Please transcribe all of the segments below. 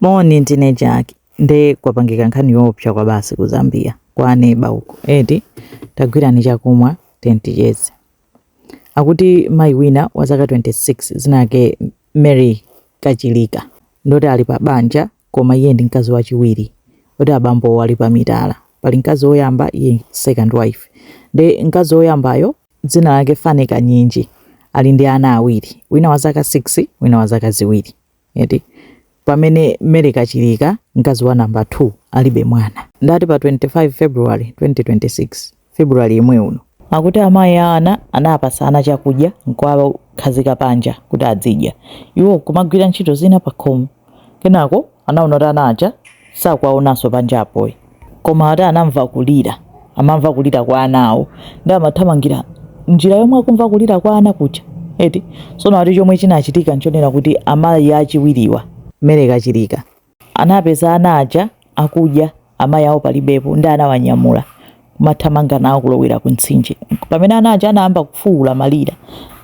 Moni ndine Jack nde kwapangika nkhani yoopsa kwabasi ku Zambia kwa aneba uko eti tagwirani chakumwa ten ticheze. Akuti mayi wina wa zaka 26 dzina lake Mary Kachilika ndoti ali pa banja koma iye ndi mkazi wachiwiri oti abambowo ali pa mitala, pali mkazi woyamba iye second wife nde mkazi woyambayo dzina lake Fane Kanyinji ali ndi ana awiri wina wa zaka 6 wina wa zaka ziwiri. eti pamene Mary Kachilika, mkazi wa number 2, alibe mwana. Ndati pa 25 February 2026, February yemwe uno, akuti amayi a ana anawapatsa ana chakudya nkuwakhazika panja kuti adzidya iwo nkumagwira ntchito zina pakhomo, kenako anaona kuti ana aja sakuwaonanso panja apo. koma ati anamva kulira amamva kulira kwa ana awo nde amathamangira njira yomwe akumva kulira kwa ana kuja eti sono ati chomwe chinachitika nchonena kuti amayi achiwiriwa Mary Kachilika anapeza ana aja akudya amayi awo palibepo nde anawanyamula kumathamanga nawo kulowera ku mtsinje pamene ana aja anayamba kufuwula kumalira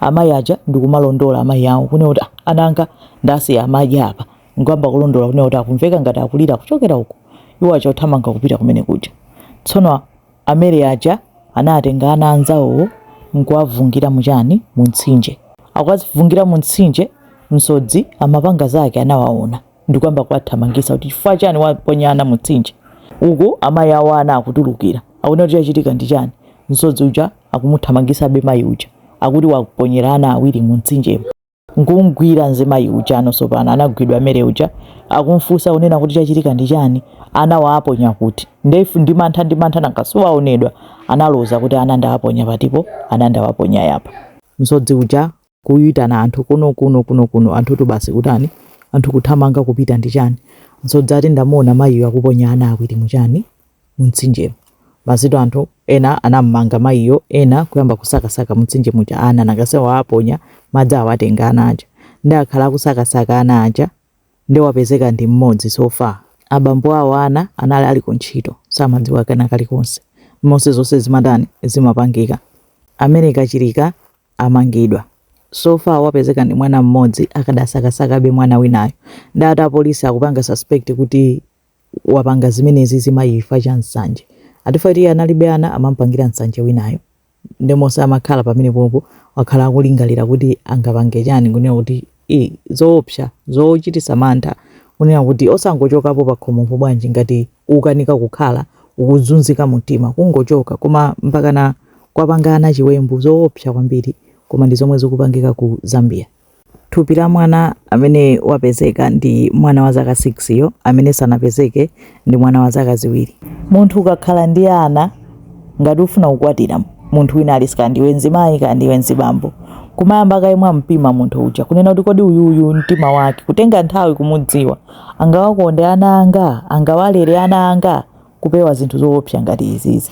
amayi aja ndikumalondola amayi awo kunena kuti "Ah, ana anga ndasiya amadya apa Nkuyamba kulondola kunena kuti akumveka ngati akulira kuchokera uko. Iwo aja kuthamanga kupita kumene kuja. Tsono a Mary aja anatenga ana anzawowo nkuwavungira mu chani mu mtsinje. Akuwavungira mu mtsinje, msodzi amapanga zake anawaona ndikuyamba kuwathamangisa kuti chifukwa chani waponya ana mu mtsinje. Uku amayi awo a ana akutulukira akunena kuti chachitika ndi chani. Msodzi uja akumuthamangisabe mayi uja akuti waponyera ana awiri mu mtsinjemo. nkumgwira mzimayi uja tsono tsopano anagwidwa Mary uja akumfunsa kunena kuti chachitika ndi chani ana wawaponya kuti ndefu ndi mantha ndi mantha nanga si waonedwa analoza kuti ana ndawaponya patipo ana ndawaponya apa msodzi uja kuyitana anthu kuno kuno kuno kuno anthutu basi kutani anthu kuthamanga kupita ndi chani msodzi ati ndamuona mayiyo akuponya ana awiri mu chani mumtsinjemo. Basitu anthu ena anamumanga mayiyo ena kuyamba kusakasaka mumtsinje muja ana nanga si wawaponya madzi awatenga ana aja nde akhala akusakasaka ana aja nde wapezeka ndi mmodzi so far. Abambo awo ana anali ali kuntchito samadziwa kena kali konse mmene zonse zimatani zimapangika. A Mary Kachilika amangidwa so far wapezeka ndi mwana mmodzi akadasakasakabe mwana winayo nde ati apolisi akupanga suspect kuti wapanga zimenezi mzimayi chifukwa cha nsanje ati chifukwa choti iye analibe ana amampangira nsanje winayo nde monse amakhala pamenepapo wakhala akulingalira kuti angapange chani kunena kuti ii zoopsa zochititsa mantha kunena kuti osangochokapo pakhomopo bwanji ngati ukukanika kukhala ukuzunzika mumtima kungochoka koma mpakana kuwapanga ana chiwembu zoopsa kwambiri koma ndi zomwe zikupangika ku Zambia. Thupi la mwana amene wapezeka ndi mwana wa zaka 6 yo amene sanapezeke ndi mwana wa zaka ziwiri. Munthu ukakhala ndi ana ngati ufuna kukwatira munthu wina aliyense kaya ndiwe mzimayi kaya ndiwe mzibambo kumayamba kaye mwampima munthu uja kunena kuti kodi uyuyu mtima wake kutenga nthawi kumudziwa angawakonde ana anga angawalere ana anga kupewa zinthu zoopsa ngati izizi.